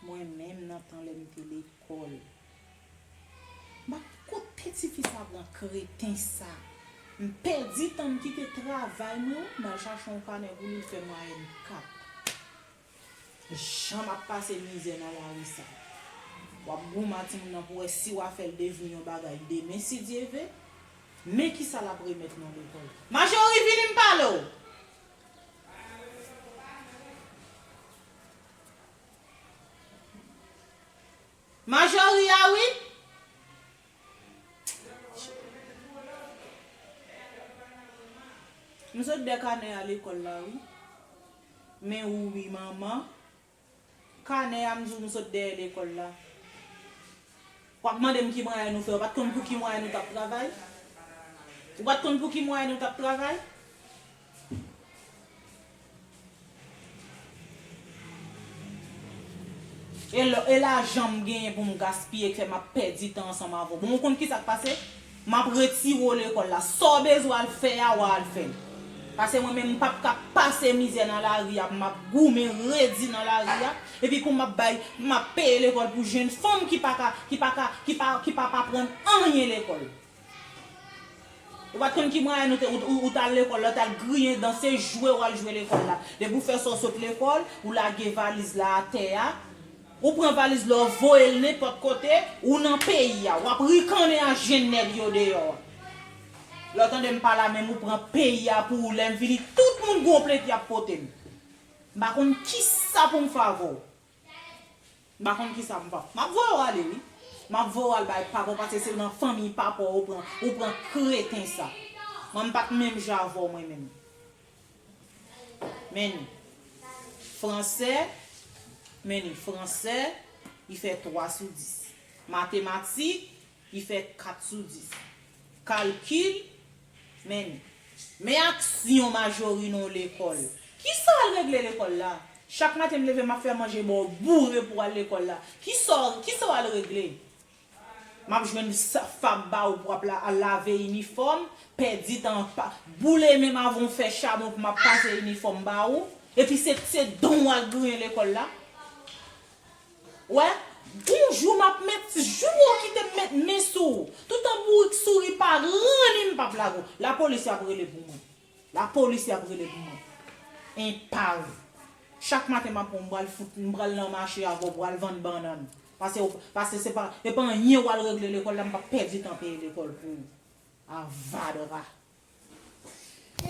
Mwen menm nan tan lè m te lekòl. Ba kot piti fi sa pran kreten sa. M pèdi tan m kite travay mwen m al chache yon kanè pou li l fè mwayèn 4. Jan map pase mizè nan lari sa. Wap goumen a timoun nan pou wè si wa fèl devni yon bagay demen si Dye ve. Men kisa lap remèt nan lekòl. Majori vini m pale w! Majori a wi! M sot dè kanè a lekòl la wi. Men ou wi manman. Kanè a m di w m sot dèyè lekòl la. W ap mande m ki mwayen nou fè ou pa t konn pou ki mwayen nou t ap travay? Ou pa t konn pou ki mwayen nou t ap travay? E lajan m genyen pou m gaspiye k fè m ap pèdi tan ansanm avè w. Bon ou konn ki sa k pase? Map retire w lekol la. Sa w bezwen al fè a wa al fè l. Pase mwen menm m pap ka pase mizè nan lari a pou map goumen redi nan lari a. Epi pou map bay, pou map peye lekol pou jenn fanm ki pa ka, ki pa ka, ki pa, ki pa ap aprann anyen lekol. Ou pat konn ki mwayen ou te, ou tal lekol la, ou tal griyen dan, se jwe wal jwe lekol la. Depi w fè sa w sot lekol, ou lage valiz la atè a. Ou pran valiz la ou voye l nenpòt kote, ou nan peyi a, wap rikannen ak jèn nèg yo deyò a. Lè w tande m pale a menm ou pran peyi a pou ou lè m vini tout moun gon plent yap pote m. M pa konn kisa pou m fè avè w. M pa konn kisa pou m fè avè w. Map voye w ale wi. Map voye w al bay papa w paske se nan fanmiy papa w ou pran kreten sa. Mwen m pat menm jan avè w mwen menm. Menu. Fransè, Menu. Fransè, li fè 3 sou 10. Matematik, li fè 4 sou 10. Kalkil, Menu. Men aksyon Majori nan yon lekòl. Kisa w al regle lekòl la? Chak maten m leve m ap fè manje ba w boure pou w al lekòl la. Kisa w al regle? Map jwenn sa fab ba ou pou wap la al lave inifòm, pèdi tan an pa boule menm avan ou fè chabon pou map pase inifòm ba ou, epi se se dan ou al griyen lekòl la. Ou wè, gon jou map met jou ou kite m met men sou ou. Toutan bourik souri pa ranni m pap lage w. Lapolis yap rele pou mwen. Lapolis yap rele pou mwen. Enpav. Chak maten map wè w m pral fout m pral nan mache avè w pou al vann bannann. Pase ou pase se pa e pa anyen wal regle lekol la m pap pèdi tan peye lekol pou ou avadra.